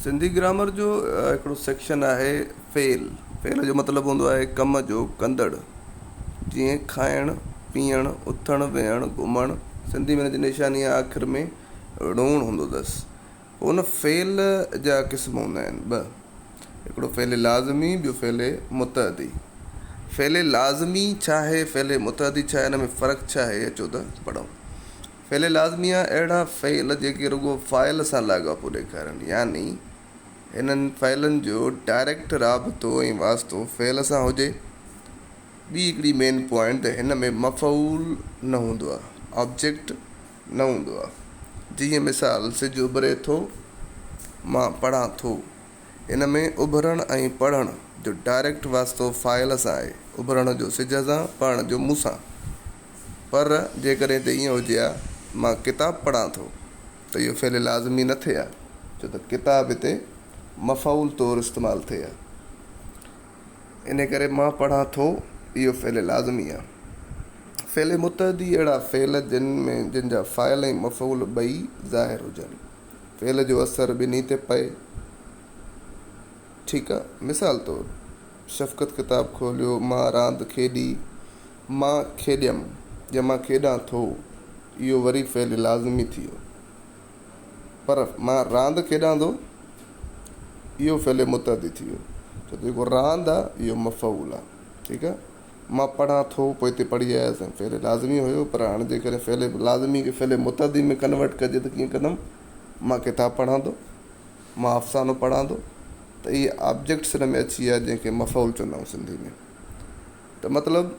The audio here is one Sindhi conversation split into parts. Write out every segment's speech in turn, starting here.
سنڌي گرامر جو هڪڙو سيڪشن آهي فعل. فعل جو مطلب هوندو آهي ڪم جو ڪندڙ. جيئن کائڻ، پيئڻ، اٿڻ، ويهڻ، گهمڻ. سنڌي ۾ هن جي نشاني آخر ۾ ڙوڻ هوندو اٿس. پوء هن فعل جا قسم هوندا آهن ٻه. هڪڙو فعل لازمي ٻيو فعل متعدي. فعل لازمي ڇا آهي فعل متعدي ڇا آهي هن ۾ فرق ڇا آهي اچو ته پڙهون. فعل لازميه اهڙا فعل جيڪي رڳو فاعل سان لاڳاپو ڏيکارن يعني هنن فعلن جو ڊائريڪٽ رابطو ۽ واسطو فعل سان هجي. ٻي هڪڙي مين پوائنٽ ته هن ۾ مفعول نه هوندو آهي، آبجيڪٽ نه هوندو آهي. جيئن مثال سج اڀري ٿو، مان پڙهان ٿو. ان ۾ اڀرڻ ۽ پڙهڻ جو ڊائريڪٽ واسطو فاعل سان آهي، اڀرڻ جو سج سان، پڙهڻ جو مون سان. پر جيڪڏهن ته ائين هجي ها مان ڪتاب پڙهان ٿو ته اهو فعل لازمي نه ٿئي ها ڇو ته ڪتاب هتي مفعول طور استعمال ٿئي ها ان ڪري مان پڙهان ٿو اهو فعل لازمي ها فعل متحدي اهڙا فعل جن ۾ جن جا فاعل ۽ مفعول ٻئي ظاهر هجن فعل جو اثر ٻنهي تي پئي ٺيڪ ا مثال طور شفقت ڪتاب کوليو مان راند کيڏي مان کيڏيم يا مان کيڏان ٿو، اهو وري فعل لازمي ٿي ويو. پر مان راند کيڏان ٿو، اهو فعل متعدي ٿي ويو. ڇو ته جيڪو راند آ، اهو مفعول آ. ٺيڪ آ. مان پڙهان ٿو، پوء هتي پڙهي آيس ۽ فعل لازمي هيو. پر هاڻ جيڪڏهن فعل لازمي کي فعل متعدي ۾ ڪنورٽ ڪجي ته ڪيئن ڪندم؟ مان ڪتاب پڙهان ٿو، مان افسانو پڙهان ٿو ته اهي آبجيڪٽس ان ۾ اچي ويا جنهن کي مفعول چوندائون سنڌي ۾. ته مطلب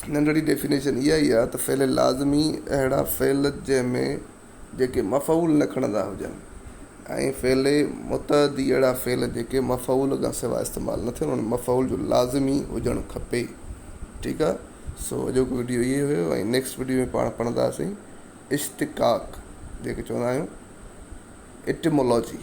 ننڍڙي ڊيفينيشن اها ئي آهي ته فعل لازمي اهڙا فعل جنهن ۾ جيڪي مفعول نه کڻندا هجن ۽ فعل متعدي اهڙا فعل جيڪي مفعول کان سواء استعمال نه ٿين انهن مفعول جو لازمي هجڻ کپي ٺيڪ آهي سو اڄوڪو ويڊيو اهي هيو ۽ نيڪسٽ ويڊيو ۾ پاڻ پڙهنداسين اشتقاق جيڪي چوندا آهيون اٽمولوجي